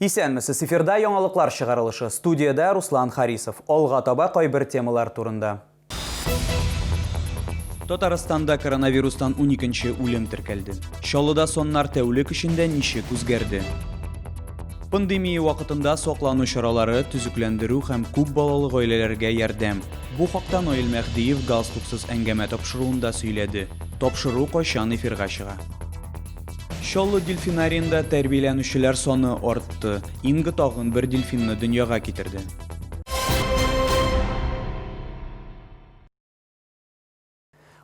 Исәнмесез, эфирда яңалыклар чыгарылышы. Студиядә Руслан Харисов. Алга таба кайбер темалар турында. Татарстанда коронавирустан уникенче үлем теркәлде. Чаллыда саннар тәүлек эчендә ничек үзгәрде? Пандемия вакытында саклану чаралары, төзекләндерү һәм күп балалы гаиләләргә ярдәм. Бу хакта Наил Мәһдиев галстуксыз әңгәмә тапшыруында сөйләде. Тапшыру кайчан эфирга чыга? Чаллы дельфинариенда тәрбияләнүчеләр саны артты. Инга тагын бер дельфинны дөньяга китерде.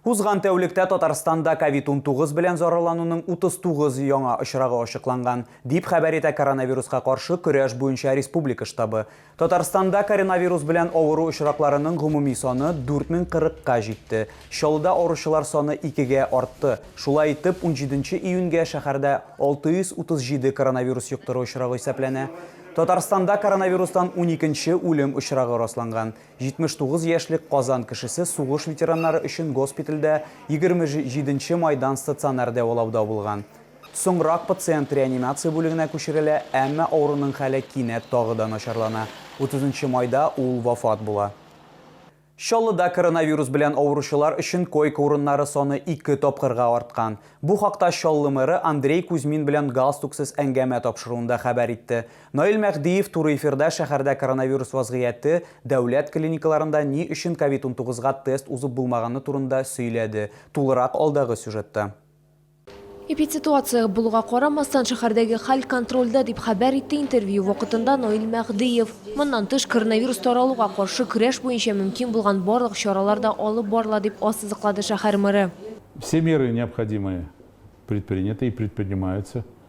Узган тәүлектә Татарстанда ковид-унтугыз белән зарарлануның 39 яңа очрагы ачыкланган, дип хәбәр итә коронавируска каршы көрәш буенча республика штабы. Татарстанда коронавирус белән авыру очракларының гомуми саны 4040 ка җитте, Чаллыда авыручылар саны икегә артты. Шулай итеп, унҗиденче июньгә шәһәрдә 637 коронавирус йоктыру очрагы исәпләнә. Татарстанда коронавирустан уникенче үлем очрагы расланган. 79 яшьлек Казан кешесе сугыш ветераннары өчен госпитальдә 27 нче майдан стационар дәвалауда булган. Соңрак пациент реанимация бүлегенә күчерелә, әмма авыруның хәле кинәт тагы да начарлана, 30 нчы майда ул вафат була. Чаллыда коронавирус белән авыручылар өчен койка урыннары саны ике тапкырга арткан. Бу хакта Чаллы мэры Андрей Кузьмин белән галстуксыз әңгәмә тапшыруында хәбәр итте. Наил Мәһдиев туры эфирда шәһәрдә коронавирус вазгыяте, дәүләт клиникаларында ни өчен ковид-19 га тест узып булмаганы турында сөйләде. Тулырак алдагы сюжетта. Эпидситуация булуга карамастан, шәһәрдәге хәл контрольдә, дип хәбәр итте интервью вакытында Наил Мәһдиев. Моннан тыш, коронавирус таралуга каршы көрәш буенча мөмкин булган барлык чаралар да алып барыла, дип ассызыклады шәһәр мэры. Все меры необходимые предприняты и предпринимаются.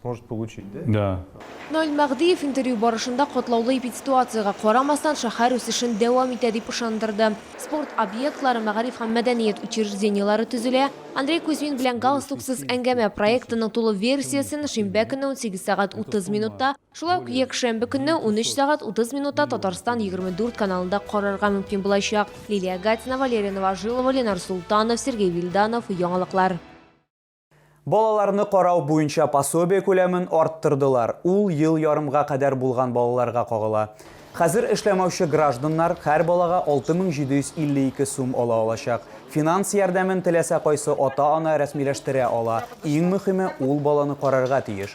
сможет получить, да? Да. Наил Мәгъдиев интервью барышында катлаулы эпидситуациягә карамастан шәһәр үсешен дәвам итә дип ышандырды. Спорт объектлары, мәгариф һәм мәдәният учреждениеләре төзелә. Андрей Кузьмин белән Галстуксыз әңгәмә проектының тулы версиясен шимбә көнне 18 сәгать 30 минутта, шулай ук якшәмбе көнне 13 сәгать 30 минутта Татарстан 24 каналында карарга мөмкин булачак. Лилия Гатина, Валерия Новожилова, Ленар Султанов, Сергей Вильданов, Яңалыклар. Балаларны карау буенча пособие күләмен арттырдылар, ул ел ярымга кадәр булган балаларга кагыла. Хәзер эшләмәүче гражданнар һәр балага 6752 сум ала алачак. Финанс ярдәмен теләсә кайсы ата-ана рәсмиләштерә ала, иң мөхиме, ул баланы карарга тиеш.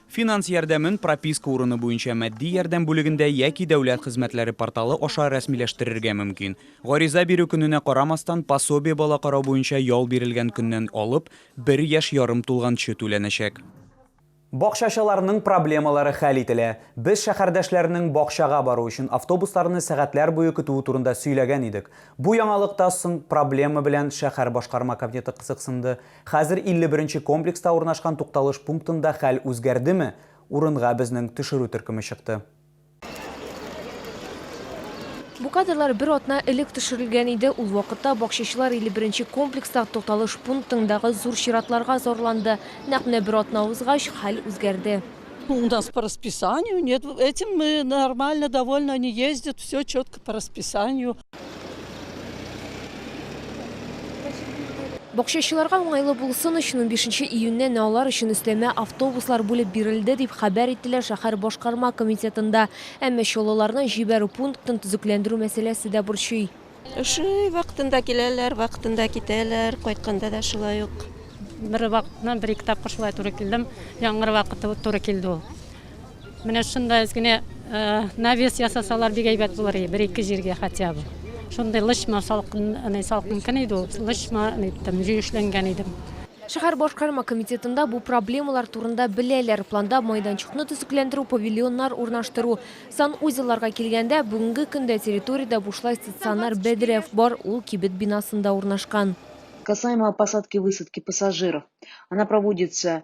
Финанс ярдәмен прописка урыны буенча матди ярдәм бүлегендә яки Дәүләт хезмәтләре порталы аша рәсмиләштерергә мөмкин. Гариза бирү көненә карамастан, пособие бала карау буенча ял бирелгән көннән алып бер яшь ярым тулганчы түләнәчәк. Бакчачыларның проблемалары хәл ителә. Без шәһәрдәшләрнең бакчага бару өчен автобусларны сәгатьләр буе көтүе турында сөйләгән идек. Бу яңалык та соң проблема белән шәһәр башкарма комитеты кызыксынды. Хәзер 51 нче комплекста урнашкан тукталыш пунктында хәл үзгәрдеме, урынга безнең төшерү төркеме чыкты. Бу кадрлар бер атна элек төшерелгән иде. Ул вакытта бакчачылар 51 нче комплекстагы тукталыш пунктындагы зур чиратларга зарланды. Нәкъ менә бер атна узгач, хәл үзгәрде. У нас по расписанию нет, этим мы нормально довольны, они ездят, все четко по расписанию. Бакчачыларга уңайлы булсын өчен унбишенче июньнән алар өчен өстәмә автобуслар бүлеп бирелде, дип хәбәр иттеләр шәһәр башкарма комитетында. Әмма чаллыларны җибәрү пунктын төзекләндерү мәсьәләсе дә борчый. Шулай, вакытында киләләр, вакытында китәләр. Кайтканда да шулай ук. Бер вакытны бер-ике тапкыр шулай туры килдем. Яңгыр вакыты туры килде ул. Менә шунда әз генә навес ясасалар, бик әйбәт булыр иде, бер-ике җиргә хотя бы. Шундый лычма салкын, әни салкын көн иде ул, лычма иттем, җөешләнгән идем. Шәһәр башкарма комитетында бу проблемалар турында беләләр. Планда майданчыкны төзекләндерү, павильоннар урнаштыру. Санузелларга килгәндә, бүгенге көндә территориядә бушлай стационар бәдрәф бар, ул кибет бинасында урнашкан. Касаемо посадки-высадки пассажиров, она проводится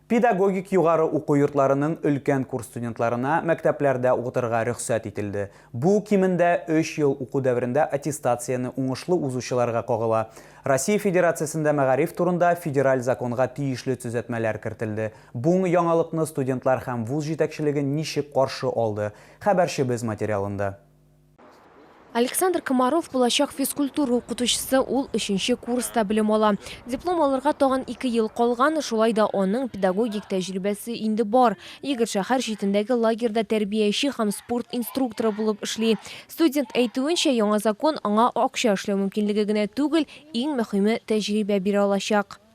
Педагогик югары уку йортларының өлкән курс студентларына мәктәпләрдә укытырга рөхсәт ителде. Бу, кимендә, өч ел уку дәверендә аттестацияне уңышлы узучыларга кагыла. Россия Федерациясендә мәгариф турында федераль законга тиешле төзәтмәләр кертелде. Буң яңалыкны студентлар һәм вуз җитәкчелеге ничек каршы алды? Хәбәрчебез материалында. Александр Комаров булачак физкультура укытучысы, ул өченче курста белем ала. Диплом алырга тагын ике ел калган, шулай да аның педагогик тәҗрибәсе инде бар. Егет шәһәр читендәге лагерьда тәрбияче һәм спорт инструкторы булып эшли. Студент әйтүенчә, яңа закон аңа акча эшләү мөмкинлеге генә түгел, иң мөһиме, тәҗрибә бирә алачак.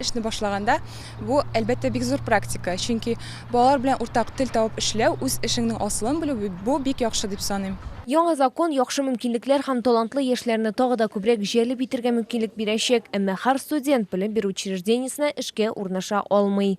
Эшне башлаганда, бу, әлбәттә, бик зур практика, чөнки балалар белән уртак тел табып эшләү, үз эшеңнең асылын белү, бу бик яхшы дип саныйм. Яңа закон яхшы мөмкинлекләр һәм талантлы яшьләрне тагы да күбрәк җәлеп итергә мөмкинлек бирәчәк, әмма һәр студент белем бирү учреждениесенә эшкә урнаша алмый.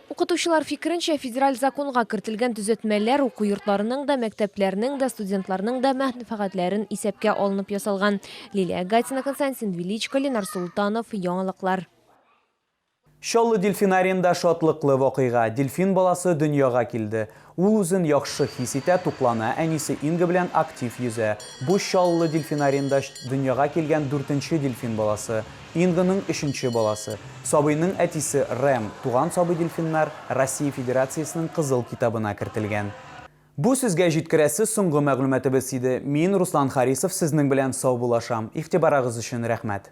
Укытучылар фикеренчә, федераль законга кертелгән төзәтмәләр уку йортларының да, мәктәпләрнең дә, студентларның да мәнфәгатьләрен исәпкә алынып ясалган. Лилия Гатина, Константин Величко, Ленар Солтанов, Яңалыклар. Чаллы дельфинариенда шатлыклы вакыйга, дельфин баласы дөньяга килде. Ул үзен яхшы хис итә, туклана, әнисе Инга белән актив йөзә. Бу Чаллы дельфинариенда дөньяга килгән дүртенче дельфин баласы, Инганың өченче баласы. Сабыйның әтисе Рэм, туган сабый дельфиннар Россия Федерациясенең Кызыл китабына кертелгән. Бу сезгә җиткерәсе соңгы мәгълүматыбыз иде. Мин, Руслан Харисов, сезнең белән саубуллашам. Игътибарагыз өчен рәхмәт.